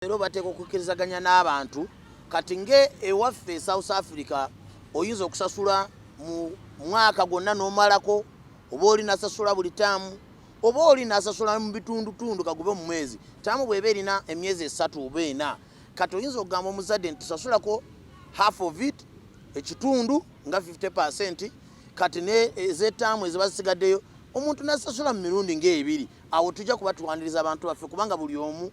leero bateeka okukkirizaganya n'abantu kati nga ewaffe e south africa oyinza okusasula mu mwaka gwonna n'omalako oba oli nasasula buli taamu oba oli nasasula mu bitundutundu kagube mu mwezi taamu bweba erina emyezi esatu oba ena kati oyinza okugamba omuzadde nti tusasulako half of it ekitundu nga 50 percent kati ne ezetaamu eziba zisigaddeyo omuntu nasasula mu mirundi ngaebiri awo tujja kuba tuwaniriza abantu baffe kubanga buli omu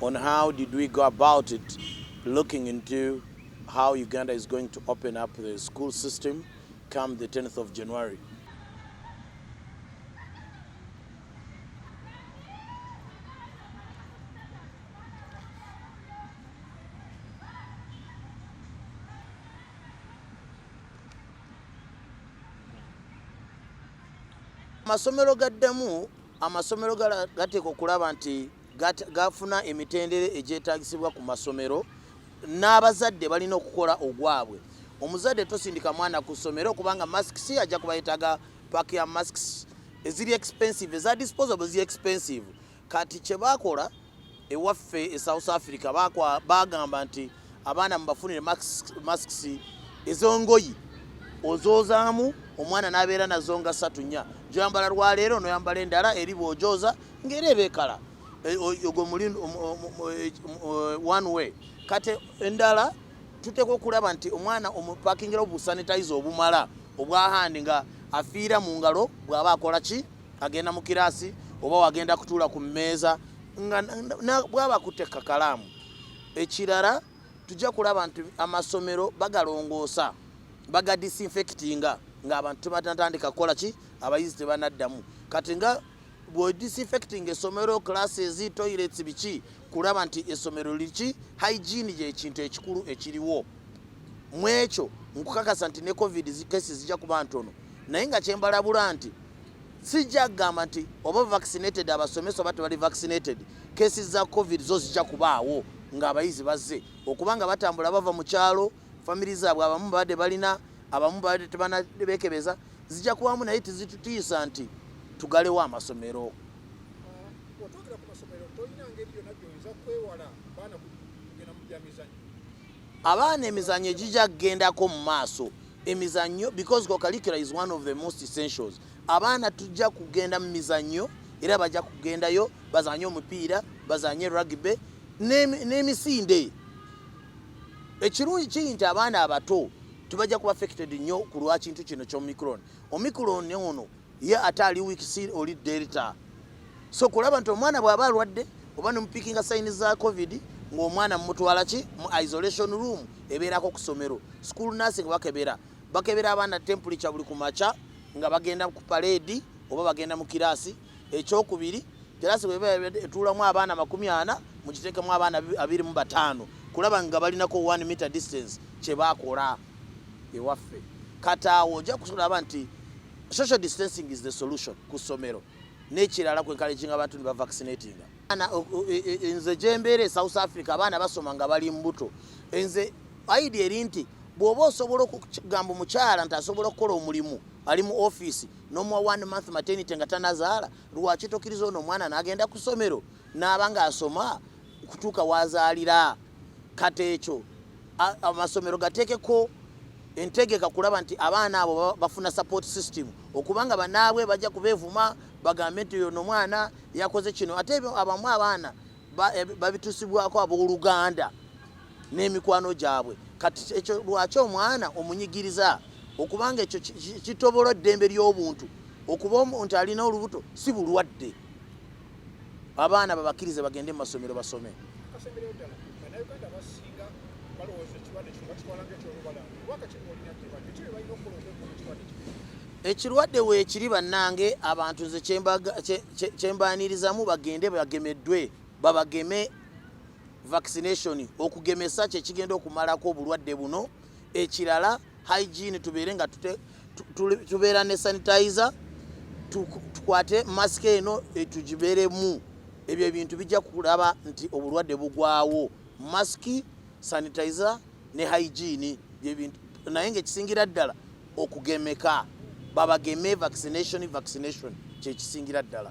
on how did we go about it looking into how Uganda is going to open up the school system come the 10th of January. amasomero gaddemu amasomero gateeka okulaba nti gafuna emitendera egyetagisibwa ku masomero n'abazadde balina okukola ogwabwe omuzadde tosindika mwana ku ssomero kubanga masks ajja kuba yetaga pak ya masks eziri expensive eza disposable zi expensive kati kyebakola ewaffe e south africa bagamba nti abaana mubafunire masks ezongoyi ozoozamu omwana nabeera nazo nga satu nya gyoyambala lwaleero noyambala endala eri bwojooza ngaera ebekala e, ogwo muli e, one way kati endala tuteekwa okulaba nti omwana omupakingirawo busanitize obumala obwahandi nga afiira mu ngalo bwaba akola ki agenda mu kiraasi oba wagenda kutuula ku mmeeza nga bwaba akutte kakalaamu Ekirala tujja kulaba nti amasomero bagalongoosa baga disinfectinga ng'abantu tebatatandika kukola ki abayizi tebanaddamu kati nga bwe disinfectinga essomero classes toilets biki kulaba nti essomero liki hygiene gyekintu ekikulu ekiriwo mu ekyo nkukakasa nti ne covid kesi zijja kuba ntono naye nga kyembalabula nti sijja kugamba nti oba vaccinated abasomesa oba tebali vaccinated kesi za covid zo zijja kubaawo ng'abayizi bazze okuba nga batambula bava mu kyalo famiri zaabwe abamu babadde balina abamu babadde tebanabekebeza zijja kubamu naye tizitutiisa nti tugalewo amasomero abaana emizanyo egijja kugendako mu maaso emizanyo because cocalicula is one of the most essentials abaana tujja kugenda mu mizanyo era bajja kugendayo bazanye omupiira bazanye rugby n'emisinde ekirungi kiri nti abaana abato tubajja kuba affected nnyo ku lwakintu kino kyomicron omicron ono ye ate ali wikisi oli delta so kulaba nti omwana bwaba alwadde oba nemupikinga sayini za covid ngaomwana mumutwala ki mu isolation room ebeerako ku somero school nursing bakebera bakebera abaana tempulica buli ku maca nga bagenda ku paleedi oba bagenda mu kiraasi ekyokubiri kiraasi bweba etuulamu abaana makumi ana mukiteekemu abaana abiri mu bataano kulaba nga balinako one meter distance kyebakola ewaffe kati awo ojja kusulaba nti Social distancing is the solution ku ssomero n'ekirala ku encouraging abantu ne bavaccinatinga. E, e, nze gye mbeera e South Africa abaana basoma nga bali mbuto. Nze idea eri nti bw'oba osobola okugamba omukyala nti asobola okukola omulimu ali mu ofiisi n'omuwa one month maternity nga tanazaala lwaki tokiriza ono omwana n'agenda ku ssomero n'aba ng'asoma kutuuka w'azaalira kati ekyo amasomero gateekeko entegeka kulaba nti abaana abo bafuna support system okubanga banaabwe bajja kubeevuma bagambe nti oyo nomwana yakoze kino ate ebyo abamu abaana eh, babitusibwako abooluganda n'emikwano gyabwe kati ekyo lwaki omwana omunyigiriza okubanga ekyo kitobola eddembe ly'obuntu okuba nti alina olubuto si bulwadde abaana babakirize bagende mu masomero basome ekirwadde weekiri bannange abantu nze kyembanirizamu bagende bagemeddwe babageme vaccination okugemesa kyekigenda okumalako obulwadde buno ekirala hygiene tubeere nga tubeera ne sanitizer tukwate mask eno eh, tugibeeremu ebyo ebintu bijja kulaba nti obulwadde bugwawo mask sanitizer ne hygiene byebintu naye ngaekisingira ddala okugemeka babageme vaccination vaccination kyekisingira ddala